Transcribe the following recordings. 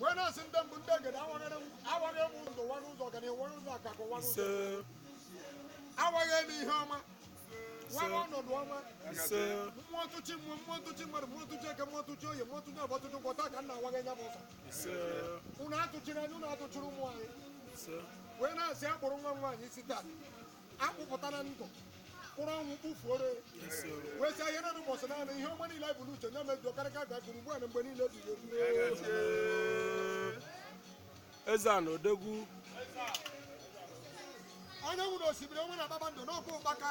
wee na-asị ndị mbụ ndị egede awaghara m awagha m ndụ wara ụzọ ọganihu wara ụzọ akakụ wara ụzọ ise awagha m ihe ọma wara ọnọdụ ọma ise mmụọ ntụchi mmụọ mmụọ ntụchi mmadụ mmụọ ntụchi eke mmụọ ntụchi oye mmụọ ntụchi afọ ntụchi nkwọ taa ka m na-awagha nya bụ ụzọ ise unu atụchiri anyị unu atụchiri ụmụ anyị ise wee na-asị akpụrụ nwa m nwaanyị isi taa akpụpụta na ndụ kpụrụ ọnwụ kpụfuoro wee sị ihe na ụbọchị naanị ihe ọma niile bụ n'uche ya mejuo karịka a gakụrụ ugbu a na mgbe niile ebighị ebi Eze-Ana Odogwu anyanwụ na osimiri ọnwa na kpakpando n'ọkwa ụkpaka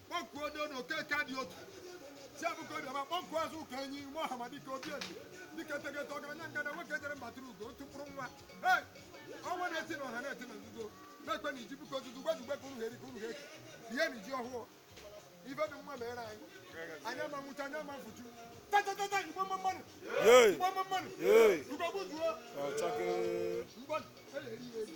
kpọkuo onye na okeke dị otu si abụka obiọma kpọkuo azụ ụka enyi ime ọhamadike obi eze dịka etegete ọgaranya ngada nwoke jere mba tụrụ ugo otu mkpụrụ nwa Hey! ọnwa na-eti na ọha na-eti na nzuzo na-ekwe na iji bụka ozuzu gbazugbe ka unu ha eri ka unu ha eke ihe na iji ọhụụ ife dị mma mere anyị anyị ama nwụcha anyị ama efucha tatatata igbo mma mma nụ Yey! igbo mma mma nụ Yey! ugogbuzuo Ọchake! mgbọ eleri ya eri